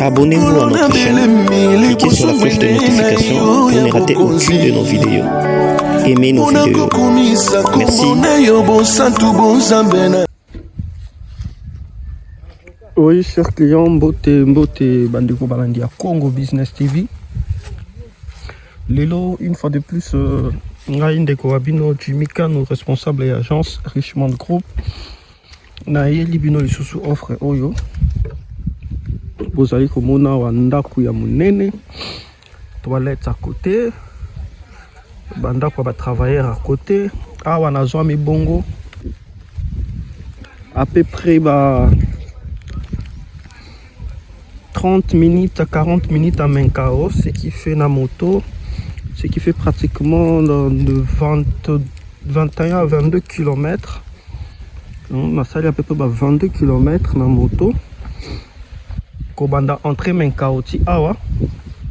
Abonnez-vous à notre chaîne, cliquez sur la flèche de notification pour ne rater aucune de nos vidéos. Aimez nos vidéos. Merci. Oui, chers clients, mbote mbote bandeko balandi ya Congo Business TV. Lelo, une fois de plus, euh, ngai ndeko wa bino Jimmy Kano, responsable ya agence Richmond Group. nayeli bino lisusu offre oyo bozali komona awa ndako ya monene toilette à côté bandako ya batravailleur à côté awa nazwami bongo à peu près ba 30 minutes à 40 minutes à Menkao, ce qui fait na moto, ce qui fait pratiquement de 20, 21 à 22 km. On a salé à peu près 22 km na moto. Kobanda entrée Menkao ti awa.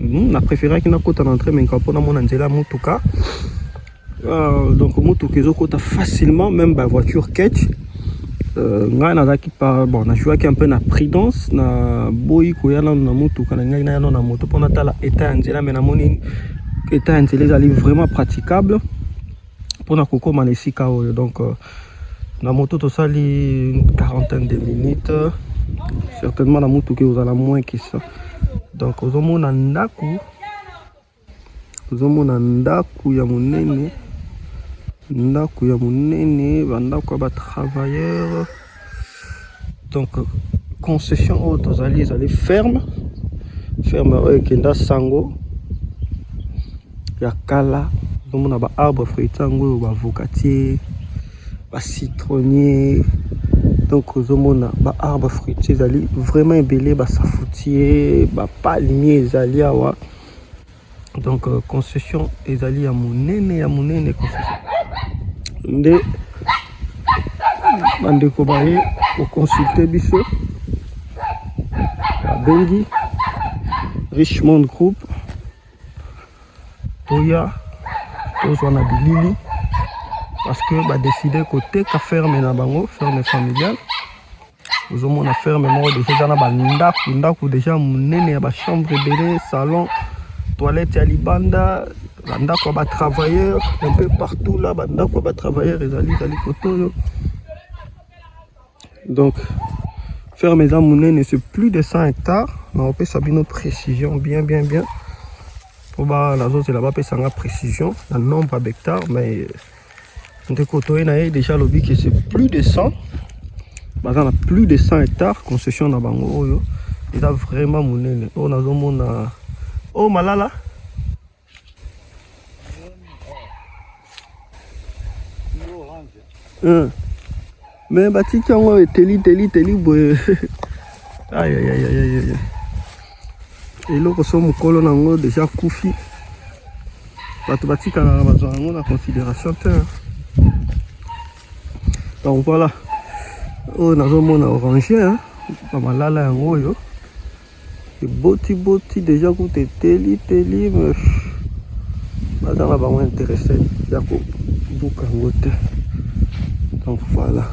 On a préféré qu'il na kota na entrée Menkao pour na mona nzela mutuka. Euh, donc motuka ezokota facilement même ba voiture catch euh, ngai nazalaki par bon na jouaki un peu na prudence na boyi koya nano na motuka na ngai nayano na moto mpo natala état ya nzela mais namoni état ya nzela ezali vraiment praticable mpo na kokóma na esika oyo donc euh, na moto tosali une quarantaine de minutes certainement na motuka ekozala moins que ça donc ozomona ndako Tozomona ndako ya monene, ndako ya monene, ba ndako ya ba travailleurs. Donc concession oyo tozali ezali ferme, ferme oyo ekenda sango ya kala. Tozomona ba arbre fruitier yango oyo ba avocatier, ba citronnier. Donc ozomona ba arbre fruitier ezali vraiment ebele, ba safoutier, ba palmier ezali awa. donc euh, concession ezali ya monene ya monene concession nde bandeko baye koconsulte biso babengi richmond group toya tozwa na bilili parce que badeside koteka ferme na bango ferme familiale ozomona ferme moko deja eza na bandako ndako deja monene ya bachambre ebele salon toilette ya libanda bandako ya batravailleur un peu partout là bandako ya batravailleur ezali ezali kote oyo donc ferme eza monene c'est plus de 100 hectares nakopesa bino précision bien bien bien mpo nazozela bapesa nga précision na nombre ya behectare mais ndeko toye na ye deja alobi ke c'est plus de 100 baza na plus de 100 hectares concession na bango oyo eza vraiment monene oyo nazomona oyo malala me batiki yango eteli teli teli boye ayayayayaya eloko so mokolo na yango deja kufi bato batikalaka bazwa yango na considération te donc voilà oyo nazomona orange bamalala yango oyo eboti boti deja kuta eteli teli me baza na bango interesse ya kobuka yango te donc voilà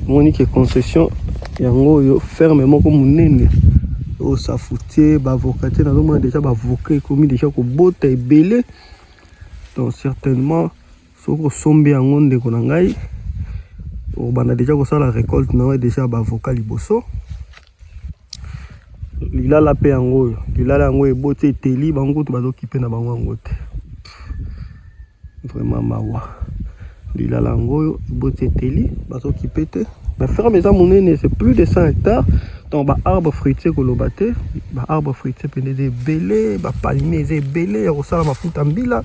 moni ke concession yango oyo ferme moko monene osafutie baavoka te nazomona deja baavoka ekomi deja kobota ebele donc certainement soki osombi yango ndeko na ngai obanda deja kosala recolte na yo deja baavoka liboso lilala mpe yango oyo lilala yango eboti eteli bango kutu bazokipe na bango yango te vraiment mawa lilala yango oyo eboti eteli bazokipe te na ferme eza monene c'est plus de 100 hectares donc baarbre fruitier koloba te baarbre fruitier mpende eza ebele bapalmier eza ebele ya kosala mafuta mbila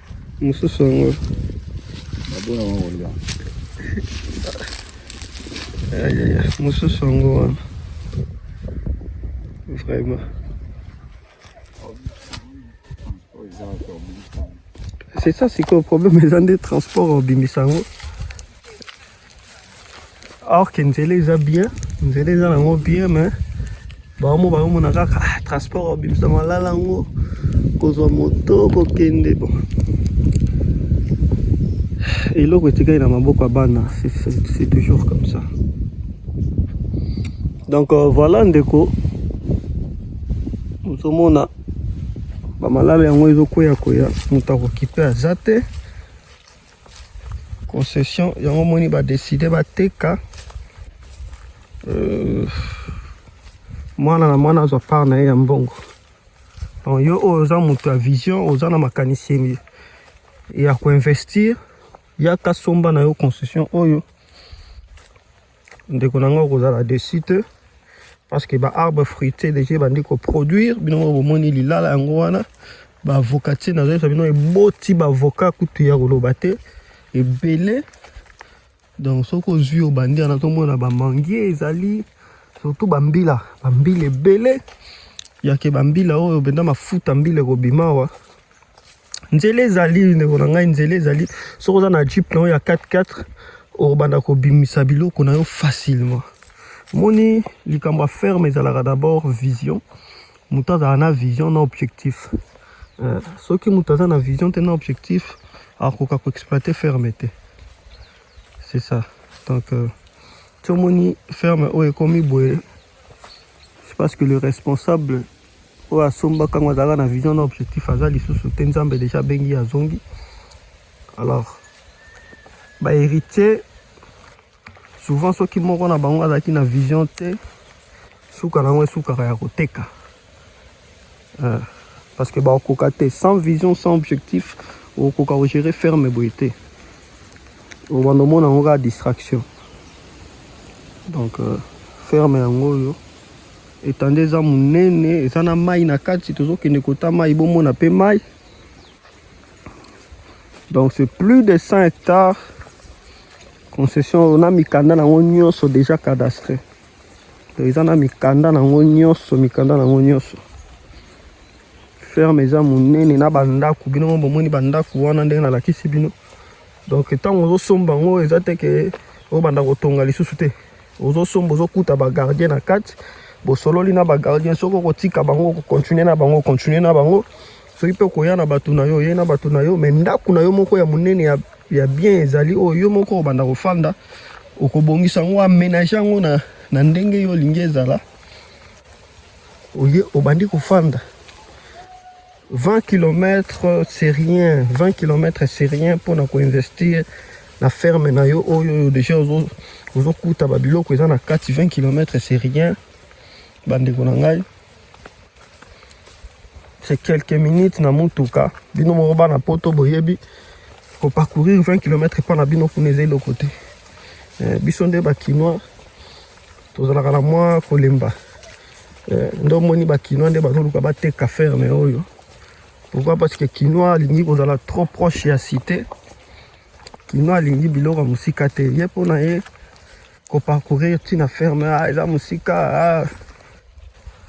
Mususu yango. Babona wango ndio. Ayaya, mususu yango wana. Vraiment. C'est ça, c'est que le problème, ils ont des transports au Bimisango. or que nzela eza bien nzela eza nango bien mais bango bakomona kaka ah, transport obimisa malala yango kozwa moto kokende bon eloko etikali na maboko ya bana c'est toujours comme ça donc euh, voilà ndeko ozomona bamalala yango ezokweya kweya moto akokipe aza te concession yango moni ba décider ba teka euh, mwana na mwana azwa part na ye ya mbongo donc yo oyo oza moto ya vision oza na makanisi ya koinvestir yaka somba na yo concession oyo ndeko na ngai okozala desi te parce que baarbre fruité deja ebandi koproduire bino moko bomoni lilala yango wana baavoka ti nazoyebisa bino eboti baavoka kutu ya koloba te ebele donc soki ozwi obandi wana tomona bamangie ezali surtout bambila bambila ebele yake bambila oyo mpenza mafuta mbila ekobima awa nzela ezali ndeko na ngai nzela ezali soki oza na jeep na oyo ya 44 okobanda kobimisa biloko na yo facilement moni likambo ya ferme ezalaka d'abord vision moto azala na vision na objectif euh, soki moto aza na vision te na objectif akoka koexploite ferme te c'est ça donc euh, tomoni ferme oyo ekomi boye c'est parce que le responsable oyo asombaka yango azalaka na vision na objectif aza lisusu te nzambe deja abengi azongi alors baheritier souvent soki moko na bango azalaki na vision te suka na yango esukaka ya koteka euh, parce que bakokoka te sans vision sans objectif okokoka kogere ferme boye te obanda omona yango kaka distraction donc euh, ferme yango oyo Etanda eza monene, eza na mai na kati, tozokende kota mai bomona pe mai. Donc c'est plus de 100 hectares concession na mikanda nango nyonso déjà cadastre. Donc eza na mikanda nango nyonso, mikanda nango nyonso. Ferme eza monene na bandako, bino bomoni bandako wana ndenge nalakisi bino. Donc ntango ozosomba yango eza te ke obanda kotonga lisusu te. ozo somba ozo kuta ba gardien na kati bosololi na ba gardien soki okotika bango okokontinue na bango okontinue na bango soki mpe okoya na bato na yo oye na bato na yo me ndako na yo moko ya monene ya, ya bien ezali oyo yo moko obanda kofanda okobongisa yango amenage yango na, na ndenge yo olingi ezala oye obandi kofanda 20 kilomètres c'est rien 20 kilomètres c'est rien mpo na koinvestir na ferme na yo oyo oyo deja ozokuta babiloko eza na kati 20 kilomètres c'est rien bandeko na ngai c'est quelques minutes na motuka bino moko bana poto boyebi koparcourir 20 kilomètres mpo na bino kuna eza eloko te eh, biso nde bakinois tozalaka na mwa kolemba Eh, nde omoni bakinois nde bazoluka bateka ferme oyo pourquoi parce que kinois alingi kozala trop proche ya cité kinois alingi biloko ya mosika te ye mpo na ye koparcourir ntina ferme ah, eza mosika ah.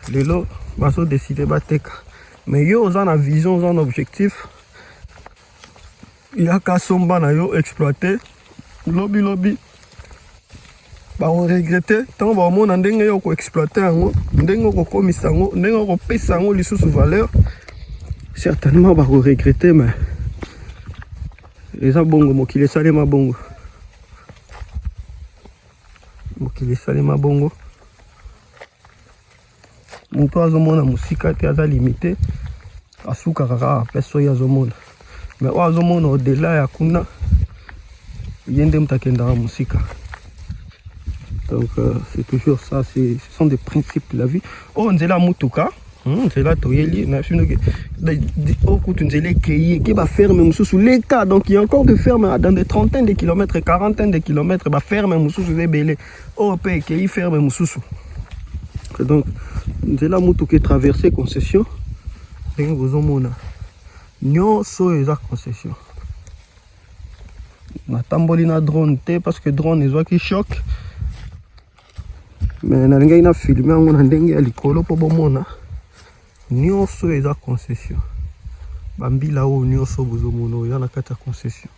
lelo bazodeside bateka mais yo oza na vision oza na objectif yaka somba na yo exploite lobi lobi bakoregrete ntango bakomona ndenge yo okoexploite yango ndenge okokomisa yango ndenge okopesa yango lisusu valeur certainement bakoregrete mais eza bongo mokili esalema bongo mokili esalema bongo moto azomona mosika te aza limite asukaka kaka mpe soki azomona me oyo azomona odela ya kuna ye nde moto akendaka mosika donc euh, c'est toujours ça ce sont des principes de la vie oyo oh, nzela ya motuka hmm, nzela toyeli nafindoki oyo oh, kutu nzela ekei eke baferme mosusu leka donc il y a encore de ferme dans des trentaines de kilomètres quarantaine de kilomètres baferme mosusu eza ebele oyo mpe ekei ferme mosusu donc nzela motuka etraverse concession ndenge bozomona nyonso oyo eza concession natamboli na drone te parce que drone ezwaki choc me nalingaki na filme yango na ndenge ya likolo mpo bomona nyonso oyo eza concession bambila oyo nyonso bozomona oyo eza na kati ya concession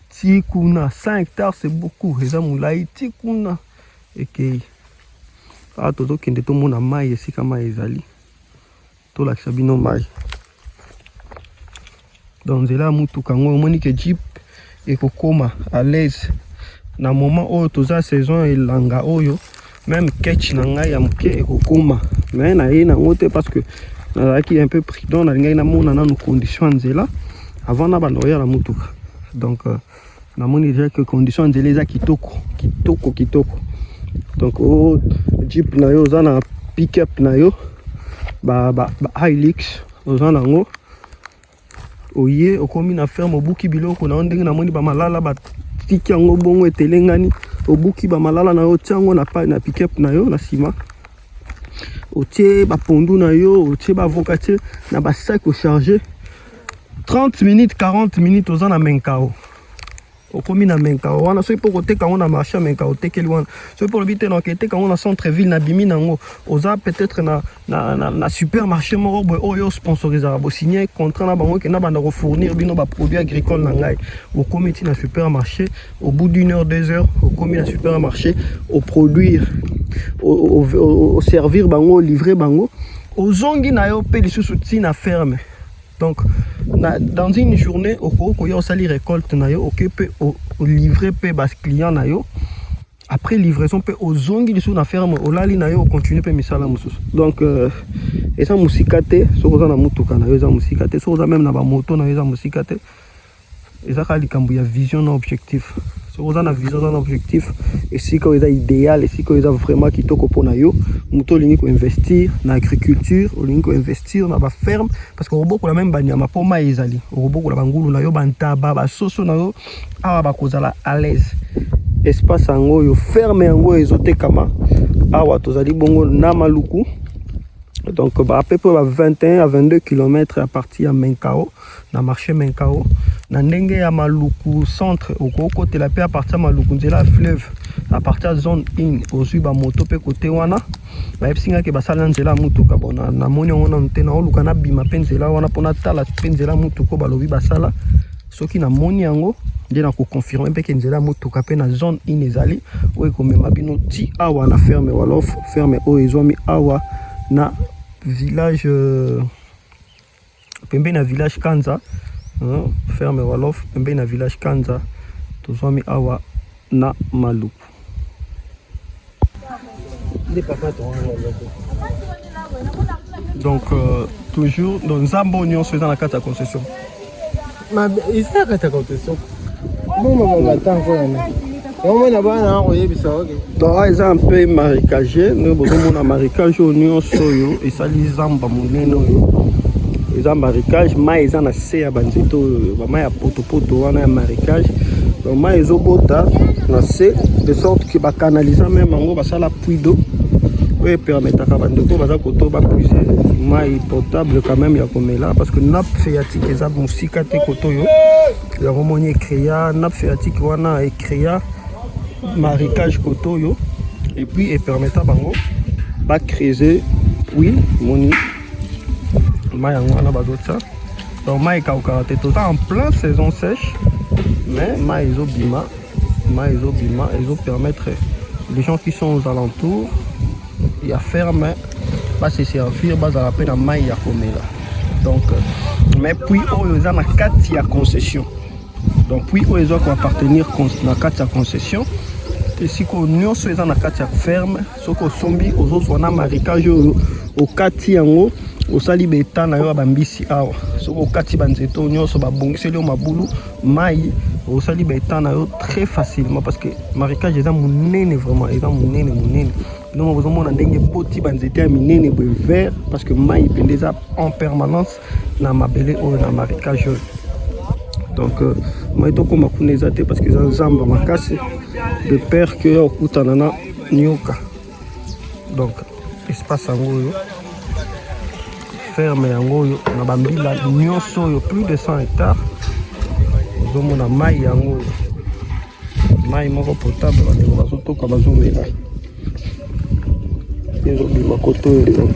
ti kuna 100 hectares c'est beaucoup eza molai ti kuna ekei awa tozokende tomona mai esika mai ezali tolakisa bino mai donc nzela ya motuka yango omoni ke jeep ekokoma à l'aise na moment oyo toza saison ya elanga oyo Meme catch na ngai ya moke ekokoma me naye nango te parce que nazalaki un peu prudent, nalingaki namona nanu condition ya nzela avant na banda koya na motuka donc euh, namoni deja que condition ya nzela eza kitoko kitoko kitoko donc o oh, jeep na yo oza na pick-up na yo ba, ba, ba hilix oza nango oye okomi na ferme obuki biloko na yo ndenge namoni bamalala batiki yango bongo etelengani obuki bamalala na yo otia yango na pale na pickup na yo na nsima otie bapondu na yo otie bavoka tie na basaki ocharge 30 minutes 40 minutes oza na menkao okomi na menkao wana soki mpo okoteka yango na marché ya menkao otekeli wana soki mpo olobi te na oketeka yango na centre ville nabimi na yango oza peut-être na, na, na, na supermarché moko boye oyo oh, sponsorisaka bosigne contrat na bango kenda banda kofournir bino baproduit agricole na ngai okomi ti na supermarché au bout d'une heure deux heures okomi na supermarché oproduire oservir bango olivre bango ozongi na yo mpe lisusu ti na ferme Donc, na, dans une journée, au cours, on sali récolte na yo, ok, peut livrer peut bas client na yo. Après livraison, peut aux zongi sur la ferme, au lali na yo, continue peut misala musus. Donc, euh, et ça musikate, sur la mutuka na yo, ça musikate, sur la même na ba moto na yo, ça musikate. eza kaka likambo ya vision na objectif soki oza na vision oza na objectif esika oyo eza idéal esika oyo eza vraiment kitoko mpo na yo moto olingi koinvestir na agriculture olingi koinvestir na baferme parce que okobokola meme banyama mpo mai ezali okobokola bangulu na yo bantaba basoso na yo awa bakozala à l'aise espace yango oyo ferme yango oyo ezotekama awa tozali bongo na maluku donc à peu près 21 à 22 km à partir ya menkao na marché Menkao na ndenge ya Maluku centre okokotela pe à partir ya Maluku nzela ya fleuve à partir ya zone 1 ozwi ba moto pe kote wana bayebisi ngai ke basala nzela ya mutuka bona namoni yango nanu te naoluka nabima pe nzela wana mpo natala pe nzela ya mutuka oyo balobi basala soki namoni yango nde nakoconfirme mpe ke nzela ya motuka mpe na zone in ezali oyo ekomema bino ti awa na ferme walof ferme oyo ezwami awa na village euh, pembeni na village Kanza euh, ferme Wolof pembeni na village Kanza tozwami awa na Maluku. Donc euh, toujours dans Zambo Nyon, c'est dans la carte à concession. Mabe isa kata kote soko. Mama mama tango yana. omona bana akoyebisa oke donc ah, eza mpe marikage ndenge bozomona marikage oyo nyonso oyo esali zamba monene oyo eza marikage mai eza na se ya banzete oyo bamai ya potopoto wana ya marikage donc mai ezobota na se de sorte ke bakanaliza meme yango basala puits d'eau oyo epermetaka bandeko baza koto bapuise mai potable quand même ya komela parce que nappe phréatique eza mosika te koto oyo yango moni ecrea nappe phréatique wana ecrea marécage koto oyo et puis epermeta bango bacrese puits moni mai yango wana bazotya donc mai ekaukaka te toza en plein saison sèche mais mai ezobima Mai ezobima ezo permettre les gens qui sont aux alentours ya ferme ba se servir bazala mpe na mai ya komela donc euh, mais puis oyo eza na kati ya concession donc puis oyo eza koappartenir na kati ya concession esika oyo nyonso eza na kati ya ferme soki osombi ozozwa na marikage oyo okati yango osali beta na yo ya bambisi awa soki okati banzete oyo nyonso babongiseli yo mabulu mai osali beta na yo très facilement parce que marikage eza monene vraiment eza monene monene donc bozomona ndenge boti banzete ya minene boye vert parce que mai mpenza eza en permanence na mabele oyo na marikage oyo donc euh, mai tokoma kuna eza te parce que eza zamba makasi de père que oya okutana na nioka donc espace yango oyo ferme yango oyo na bambila nyonso oyo plus de 100 hectare ozomona mai yango oyo mai moko potable bandeko bazotoka bazomela ezobima koto oyo donc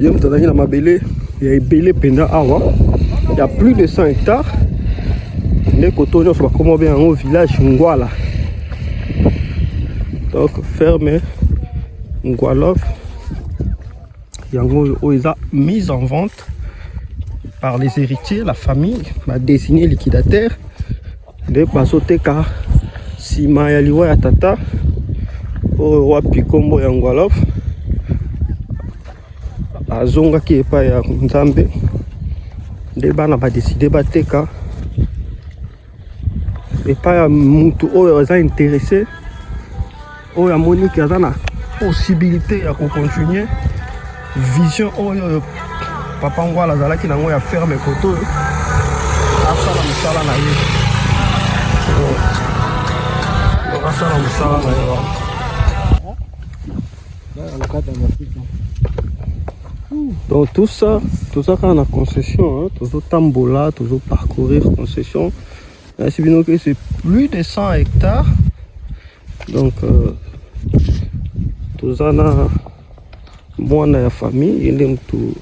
ye moto azalaki na mabele ya ebele mpenza awa ya plus de 100 hectare nde koto nyonso bakoma obe yango village ngwala donc ferme ngwalof yango oyo eza mise en vente par les héritiers la famille badesine liquidateur nde bazoteka nsima ya liwa ya tata oyo wapi nkombo ya ngwalof azongaki epai ya nzambe nde bana badeside bateka epai ya motu oyo aza interese oyo amoni ke aza na possibilité ya kocontinue vision oyo papa ngwala azalaki nango ya ferme koto oyo asala mosala na ye asala mosala na ye wana donc tout ça toza kaka na concession tozotambola tozoparcourir concession nayesi bino ke c'est plus de 100 hectares Donc euh, toza na mwana ya famille ye nde motu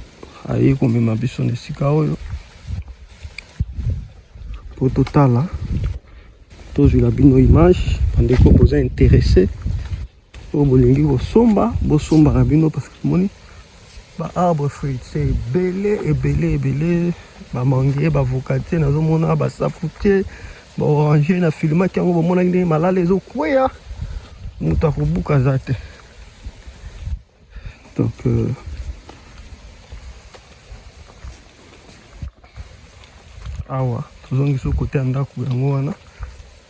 aye komema biso na esika oyo mpo totala tozwila bino image bandeko boza interesse oyo bolingi kosomba bosomba na bino parce que moni ba arbre fruitier ebele ebele ebele ba mangue ba vocatier nazomona ba safutier ba orange na filimaki yango bomonaki ndenge malala ezokweya moto akobuka aza te donc euh, awa tozongisi kote ya ndako yango wana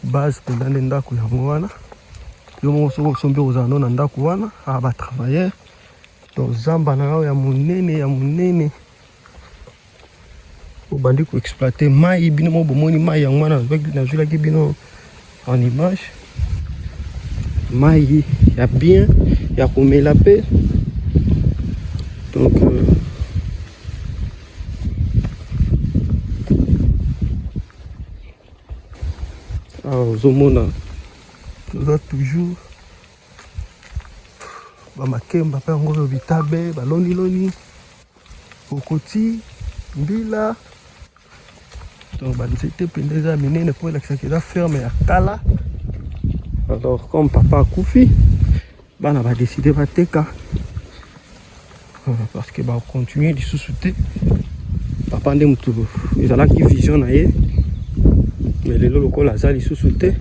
base mpenza nde ndako yango wana yo moko soki osombi ozala no na ndako wana a ah, batravailleur Donc zamba na yo ya monene ya monene obandi ko exploiter mai bino moko bomoni mai yango wana nazwilaki bino en image mai ya bien ya komela mpe donc euh, awa ah, ozomona toza toujours ba makemba mpe yango oyo bitabe baloniloni kokoti mbila donc banzete mpenza eza minene mpo elakisaka eza ferme ya kala alors comme papa akufi bana badeside bateka parce que ba continuer lisusu te papa nde motu ezalaki vision na ye mais lelo lokola aza lisusu te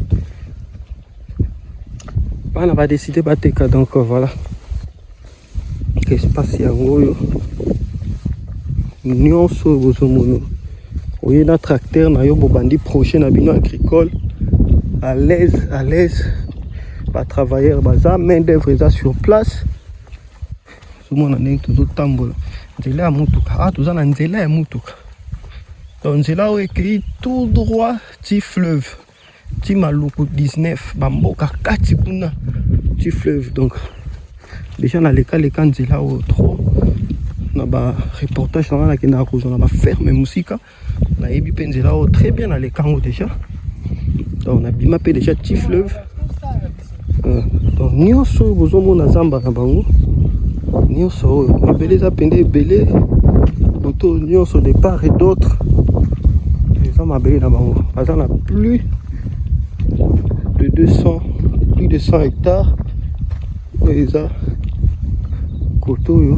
bana badeside bateka donc euh, voilà espace yango oyo nyonso oyo bozomono oye na tracteur na yo bobandi projet na bino agricole à l'aise à l'aise batravailleur baza main d'œuvre eza sur place Mwana ndenge tozotambola nzela ya motuka awa, ah, toza na nzela ya motuka donc nzela oyo ekei tout droit ti fleuve ti maluku 19 bamboka kati kuna ti fleuve donc deja nalekaleka nzela oyo trop na bareportage nanga nakendaka kozwa na baferme mosika nayebi mpe nzela oyo très bien na lekango déjà donc nabima mpe déjà ti fleuve euh, donc nyonso oyo bozomona zamba na bango nyonso oyo mabele eza mpenza ebele boto nyonso de part et d'autre eza mabele na bango baza na plus de 200 plus de 100 hectares oyo eza kote oyo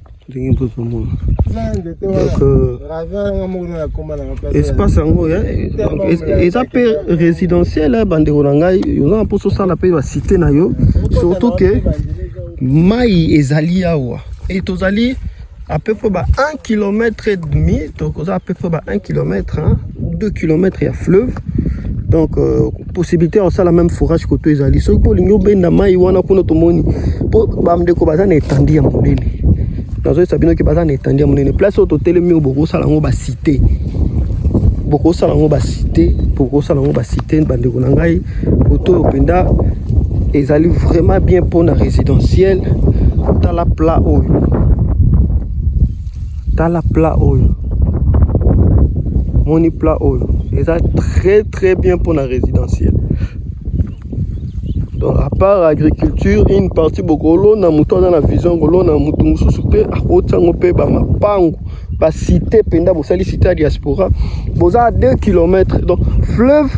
ndenge bozomona espace yango eza mpe résidentiel eh, bandeko na ngai oza na mposa osala mpe basite na yo surtout ke mai ezali awa e tozali à peu près ba 1 km et demi tokoza à peu près ba 1 km hein. 2 km ya fleuve donc euh, possibilité ya kosala même forage koto ezali soki mpo olingi obenda mai wana kuna tomoni mpo bandeko baza na etandi ya monene nazoyesa bino ke baza na etandi ya monene place oyo totelemi oyo bokosala yango basite bokosala yango basite bokosala yango basite bandeko na ngai koto oyo mpenza ezali vraiment bien mpo na résidentiel tala plat oyo tala plat oyo moni plat oyo eza très très bien pour la résidentielle donc à part agriculture une partie bokolona moto aza na vision kolona moto mosusu mpe akotisa yango mpe bamapango basite mpenza bosali site ya diaspora boza 2 km donc fleuve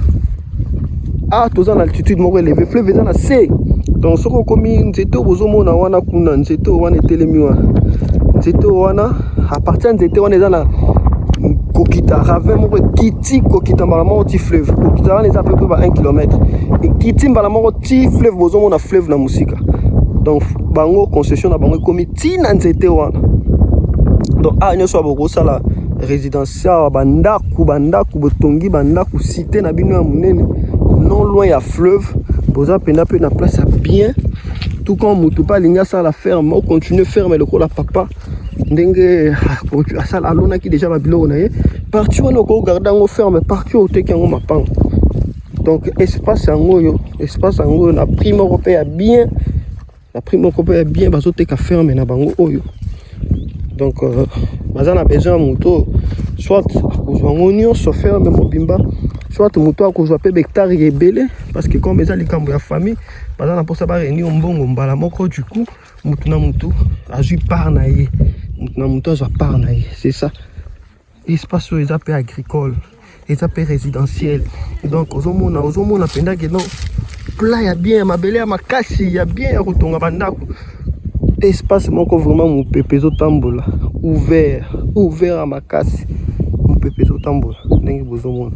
ah toza na altitude moko eleve fleuve eza na se donc soki okomi nzete oyo bozomona wana kuna nzete oyo wana etelemi wana nzete oyo wana apartir ya nzete wana eza na kokita ravin moko ekiti kokita mbala moko ti fleuve kokita wana eza pepe ba 1 km ekiti mbala moko ti fleuve bozomona fleuve na mosika donc bango concession na bango ekomi ti na nzete wana donc a ah, nyonso ya bokosala résidence Sawa ba ndaku ba ndaku botongi ba ndaku cité na bino ya munene non loin ya fleuve boza penda pe na place ya bien tout comme mutu pa linga sala ferme au continuer ferme lokola papa ndenge ah, asala alonaki deja ba biloko na ye parti wana oko garder yango ferme parti oyo oteki yango mapango donc espace yango oyo espace yango oyo na prix moko pe ya bien na prix moko mpe ya bien bazoteka ferme na bango oyo donc euh, baza na besoin ya moto oyo soit akozwa yango nyonso ferme mobimba soit moto akozwa mpe bektare ya ebele parce que comme eza likambo ya famille baza na mposa bareunir mbongo mbala moko du coup motu na motu azwi part na ye motu na motu azwa part na ye c'est ça espace oyo eza pe agricole eza pe résidentiel donc ozomona ozomona mpenza ke non plat ya bien ya mabele ya makasi ya bien ya kotonga bandako espace moko vraiment mopepe ezotambola ouvert ouvert ya makasi mopepe ezotambola ndenge bozomona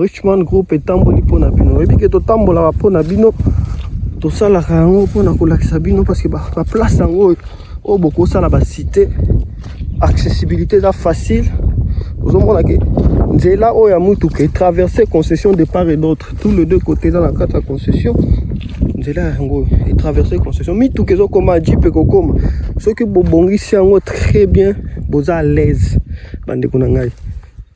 richmond group etamboli mpo na bino oyebi ke totambolaka mpo na bino tosalaka yango mpo na kolakisa bino parce que baplace yango oyo oh, bokosala basite accessibilité eza facile ozomona ke nzela oyo ya motuka etraverse concession de part et d'autre tout le deux côté dans la carte ya concession nzela yango etraverse concession mituka ezokoma jeep ekokoma soki bobongisi yango très bien boza à l'aise bandeko na ngai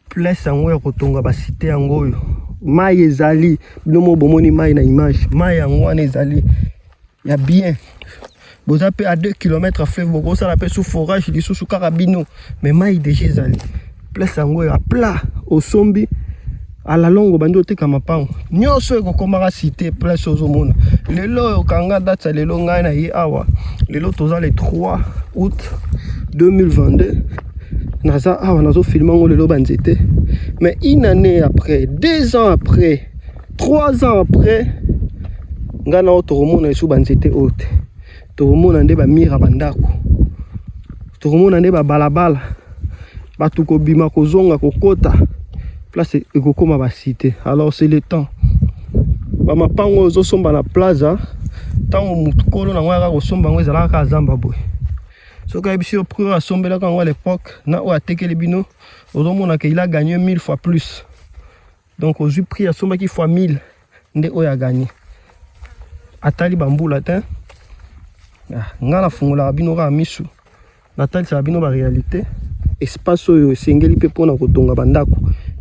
place yango ya kotonga basite yango oyo mai ezali bino mo bomoni mai na image mai yango wana ezali ya bien boza mpe a 2 km ya fleuve bokosala mpe sous forage lisusu kaka bino me mai deja ezali place yango ya plat osombi alalongo bandi oteka mapango nyonso ekokomaka cité place ozomona lelo oyo kanga date ya lelo ngai na ye awa lelo toza le 3 août 2022 naza awa nazofilme yango lelo banzete mais une année après deux ans après 3 ans après ngai nao tokomona lisusu banzete oyo te tokomona nde bamira bandako tokomona nde babalabala bato kobima kozonga kokota place ekokoma basite alors c'est le temps bamapango oyo ozosomba na plaza ntango mokolo nango yaka kosomba yango ezalaka kaka zamba boye soki ayebisi yo prix oyo asombelaka yango à l'époque na oyo atekeli bino ozomonaka il a gagné 1000 fois plus donc ozwi prix asombaki fois 1000 nde oyo aganye atali bambula te ah, ngai nafungolaka bino kaka misu natalisaka bino baréalité espace oyo esengeli mpe mpona kotonga bandako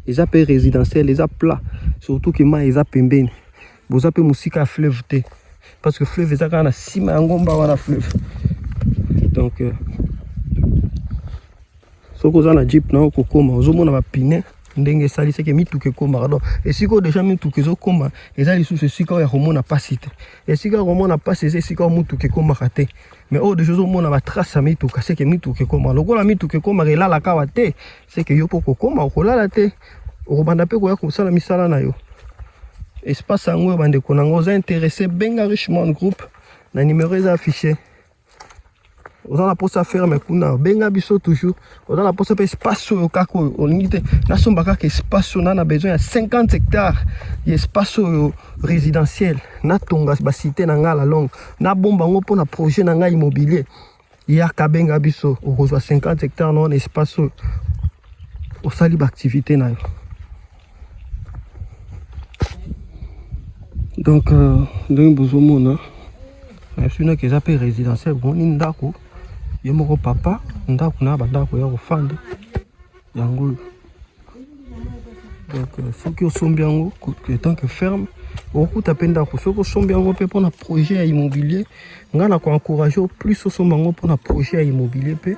eza mpe résidentiel eza plat surtout ke mai eza pembeni boza mpe mosika ya fleuve te parce que fleuve eza kaka na nsima ya ngomba wana fleuve donc euh, soki oza na jeep na yo kokoma ozomona bapine ndenge esali seke mituka ekomaka donc esika oyo deja mituka ezokoma eza lisusu esika oyo ya komona mpasi te esika ya komona mpasi eza esika oyo motuka ekomaka te mais oyo deja ozomona batrace ya mituka seke mituka ekomaka lokola mituka ekomaka elalaka awa te seke yo mpo kokoma okolala te okobanda mpe koya kosala misala na yo espace yango oyo bandeko na yango oza interesse benga richmond groupe na numero eza affiche oza na posa ferme kuna benga biso toujours oza na posa mpe espace oyo kaka oyo olingi te nasomba kaka espace oyo na na besoin ya 50 hectare ya espace oyo résidentiel natonga basite na ngai la longue nabomba yango mpo na projet na ngai immobilier yaka benga biso okozwa 50 hectare na wana espace oyo osali baactivité na yo donc euh, ndenge bozomona nasunaki eza mpe résidentiel bomoni ndako ye moko papa ndako na bandako ya kofanda yango oyo donc euh, soki osombi yango etant que ferme okokuta mpe ndako soki osombi yango mpe mpona projet ya immobilier ngai na koencourage o plus osomba yango mpona projet ya immobilier mpe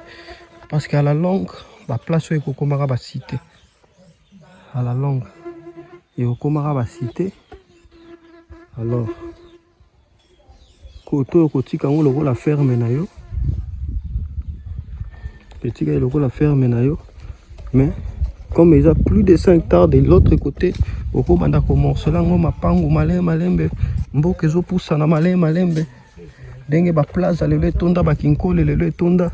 parce que à la longue baplace oyo ekokomaka basite à la longue ekokomaka basite alors koto oyo kotika yango lokola ferme na yo etika ye lokola ferme na yo mais comme eza plus de 5 tard de l'autre côté okobanda komorcela yango mapangu malembe malembe mboka ezopusana malembe malembe ndenge ba plaza lelo etonda ba kinkole lelo etonda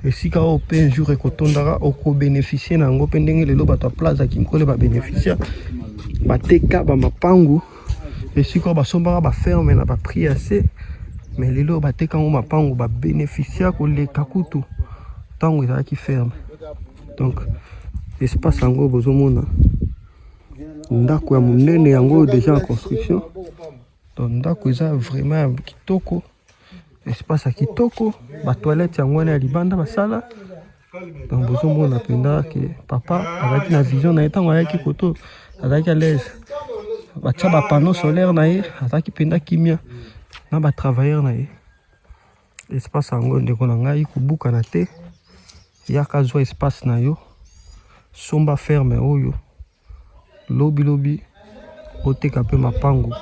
esika oyo mpe un jour ekotondaka okobeneficie na yango mpe ndenge lelo bato ya plaza kinkole babeneficia bateka bamapangu esika oyo basombaka baferme na baprix ya se me lelo oyo bateka yango mapangu babeneficia koleka kutu ntango ezalaki ferme donc espace yango bozomona ndako ya monene yango oyo deja en construction Donc ndako eza vraiment ya kitoko, espace ya kitoko, ba toilettes yango wana ya libanda basala. Donc bozomona mpenza ke papa azalaki na vision na ye ntango ayaki koto, azalaki à l'aise. Batya ba panneau solaire na ye, azalaki mpenza kimia na ba travailleurs na ye. espace yango ndeko na ngai kobukana te yaka zwa espace na yo somba ferme oyo lobi lobi oteka mpe mapango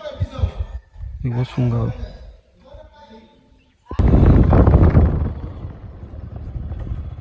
ekosunga yo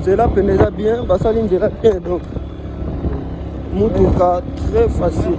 nzela pene eza bien basali nzela te donc motuka très facile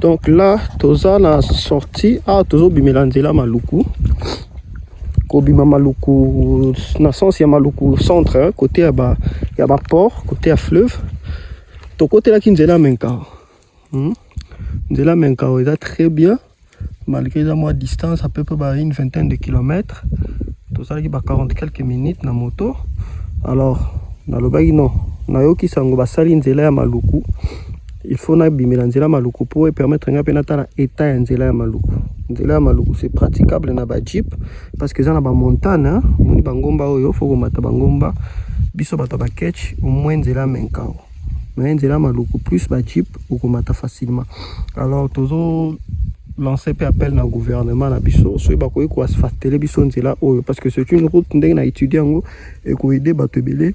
donc là toza na sortie awa ah, tozobimela nzela maluku kobima maluku na sens ya maluku centre hein, côté ya ba ya ba port côté ya fleuve tokotelaki nzela menkao hmm? nzela menkao eza très bien malgré eza mwa distance à peu près ba une vingtaine de kilomètres tosalaki ba 40 quelques minutes na moto alors nalobaki non nayoki sango basali nzela ya maluku il faut nabimela nzela maluku mpo epermettre ngai mpe natala etat ya nzela ya maluku nzela ya maluku c'est praticable na bajeep parce que eza na bamontane omoni bangomba oyo fo komata bangomba biso bato ya baketch omoi nzela ya menkao mais nzela ya maluku plus bajeep okomata facilement alors tozo lancer mpe appel na gouvernement na biso soki bakoki koasfactele biso nzela oyo parce que c'est une route ndenge na étudie yango ekoede bato ebele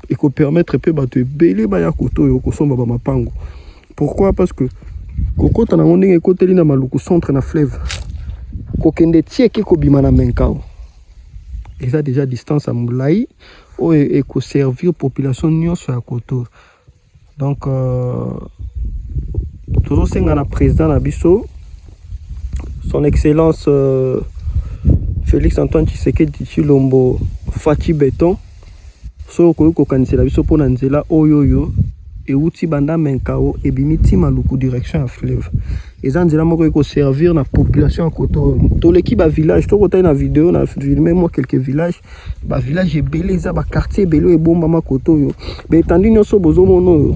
eko permettre pe bato ebele baya koto yo kosomba ba mapango pourquoi parce que kokota nango ndenge ekoteli na maluku centre na fleuve kokende tieke kobima na menkao eza deja distance ya molai oyo ekoservir population nyonso ya koto donc euh, tozosenga na président na biso son excellence euh, félix antoine tshisekedi tshilombo faci beton soki okoki kokanisela biso mpo na nzela oyo oyo euti banda menkao ebimi ti maluku direction ya fleuve eza nzela moko ekoservir na population ya koto toleki bavillage tokotali na video na filme mwa quelques villages ba village ebele eza ba quartier ebele oyo ebombama kote oyo baetandi nyonso bozomona oyo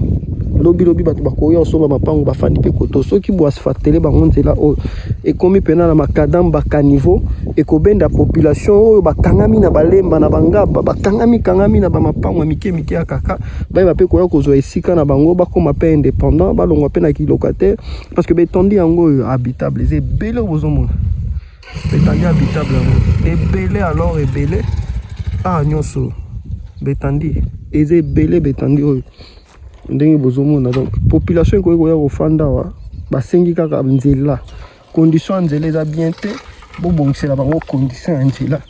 lobilobi bato bakoya osomba mapango bafandi mpe koto soki boasfactele bango nzela oyo ekomi mpena na makadam bakaniveau ekobenda population oyo bakangami na balemba na bangaba bakangami kangami na bamapango ya mike mike ya kaka bayeba mpe koya kozwa esika na bango bakoma mpe indépendant balongwa mpe na kilokataire parce que baetandi yango oyo habitable eza ebele oyo bozomona Betandi habitable yango ebele alors ebele ah nyonso betandi eza ebele betandi oyo ndenge bozomona donc population ekoki koya kofanda awa basengi kaka nzela condition ya nzela eza bien te bobongisela bango condition ya nzela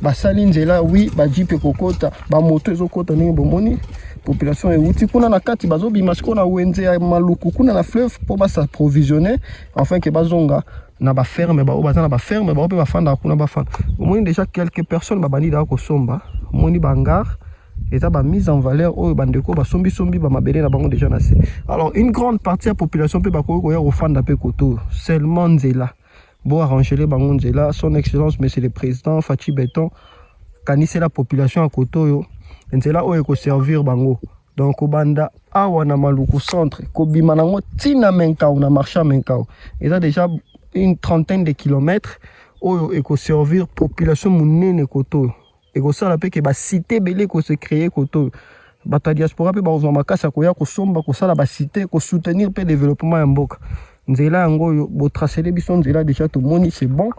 basali nzela wi bajipe ekokota bamoto ezokota ndenge bomoni population euti kuna na kati bazobima sikoyo na wenze ya maluku kuna na fleuve mpo basaprovisionne enfin ke bazonga na ba ferme ba baza na ba ferme ba pe ba fanda kuna ba fanda omoni déjà quelques personnes ba bandi da ko somba omoni ba ngar eza ba mise en valeur oyo ba ndeko ba sombi sombi ba mabele na bango déjà na se alors une grande partie ya population pe ba ko ko ya ko fanda pe koto seulement nzela bo arranger les bango nzela son excellence monsieur le président Fatshi Beton kanisela population ya koto yo nzela oyo ko servir bango donc kobanda awa na maluku centre kobima nango ntina menkau na marché ya menkau eza déjà une trentaine de kilomètres oyo ekoservir population monene koto oyo ekosala mpe ke basite ebele ekose créer koto oyo bato ya diaspora mpe bakozwa makasi ya koya kosomba kosala basite kosoutenir mpe développement ya mboka nzela yango oyo botracele biso nzela déjà tomoni c'est bon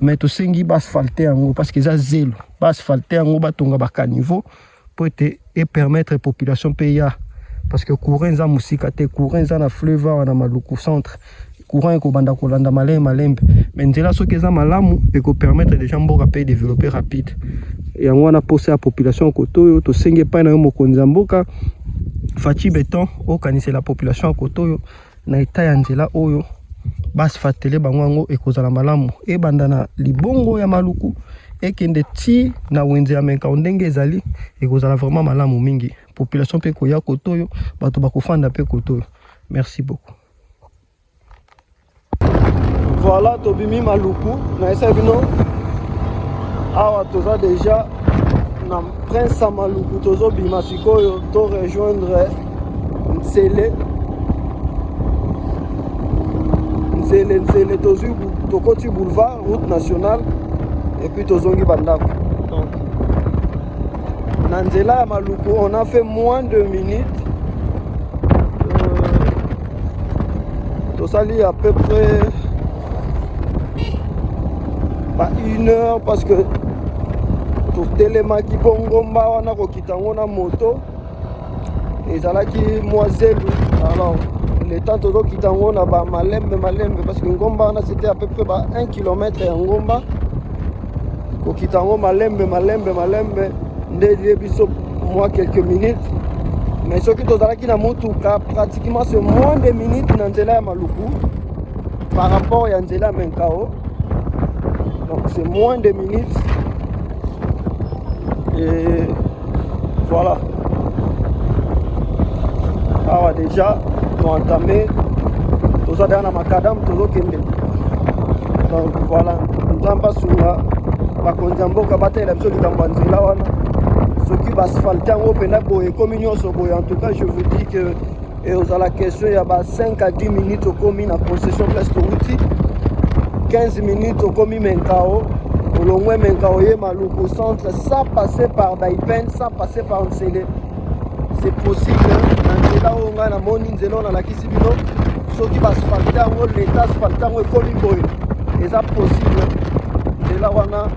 mais tosengi baasphalte yango parce que eza zelo baasphalte yango batonga bacaniveau mpo ete epermettre population mpe ya parce que courant eza mosika te courant eza na fleuve awa na maluku centre courant ekobanda kolanda malembe malembe mais nzela soki eza malamu ekopermettre déjà mboka mpe développer rapide yango wana mposa ya population koto oyo tosengi epai na yo mokonzi ya mboka faci beton okanisela population ya koto oyo na etat ya nzela oyo basfatele bango yango ekozala malamu ebanda na libongo ya maluku ekende ti na wenze ya menkao ndenge ezali ekozala vraiment malamu mingi population mpe koya koto oyo bato bakofanda mpe koto oyo merci beaucoup voilà tobimi maluku nayesa bino awa toza deja na prince ya maluku tozobima sikoyo to rejoindre Nsele Nsele Nsele tozwi tokoti boulevard route nationale epuis tozongi bandako donc na nzela ya maluku on a fait moins de minutes euh, tosali à peu près ba une heure parce que totelemaki mpo ngomba wana kokita yango na moto ezalaki mwa zelu alors le temps tozokita yango na bamalembe malembe parce que ngomba wana c'était à peu près ba 1 km ya ngomba kokita yango malembe malembe malembe nde elie biso mwa quelques minutes mais soki tozalaki na motuka pratiquement ce moins de minutes na nzela ya maluku par rapport ya nzela ya menkao donc c'est moins de minutes et Voilà. Awa déjà toentame toza deja na makadamu tozokende donc voilà nzambe asunga bakonzi ya mboka batalela biso likambo ya nzela wana soki baasfalte yango mpenza boye ekomi nyonso boye en tout cas je vous dis que e ozala question ya ba 5 à 10 minutes okomi na possession place towuti 15 minutes okomi menkao olongwe menkao ye maluku centre sans passer par daipen sans passer par nsele c'est possible na nzela oyo ngai namoni nzela oyo nalakisi bino soki basphalte yango leta asphalte yango ekomi boye eza possible nzela wana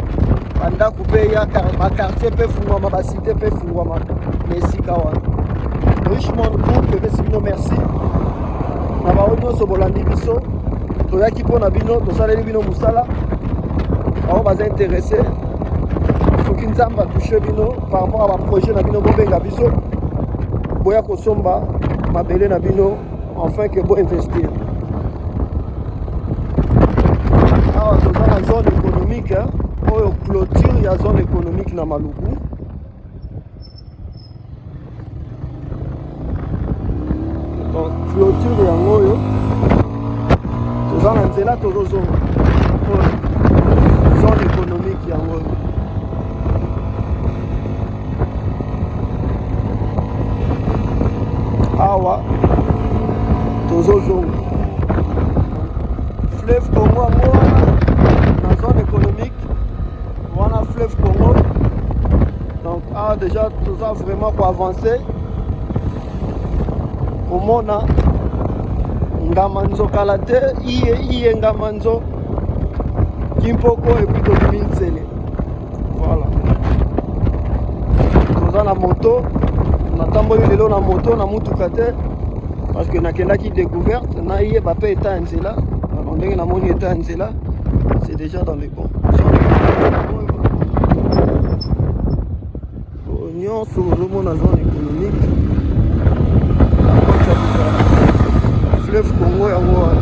bandako mpe ya bakartier mpe fungwama basi te mpe efungwamaka na esika wana richmond group epesi bino merci na baoyo nyonso bolandi biso toyaki mpo na bino tosaleli bino mosala baoyo baza interese soki nzambe atushe bino par rapport ya baprojet na bino bobenga biso boya kosomba mabele na bino enfin que bo investir awa toza na zone économique oyo clôture ya zone économique na maluku donc clôture yango oyo toza na nzela tozozonga zone économique yango oyo awa tozozonga fleuve congo yango wana na zone économique wana fleuve congo donc awa déjà toza vraiment koavance komona ngamanzo kala te iye iye ngamanzo kimpoko epuis tobimi nsele voilà toza na moto natamboli lelo na moto na motuka te parce que nakendaki découverte nayeba mpe etat ya nzela alors ndenge namoni etat ya nzela c'est déjà dans le bon nyonso ozomona zone économique fleuve congo yango wana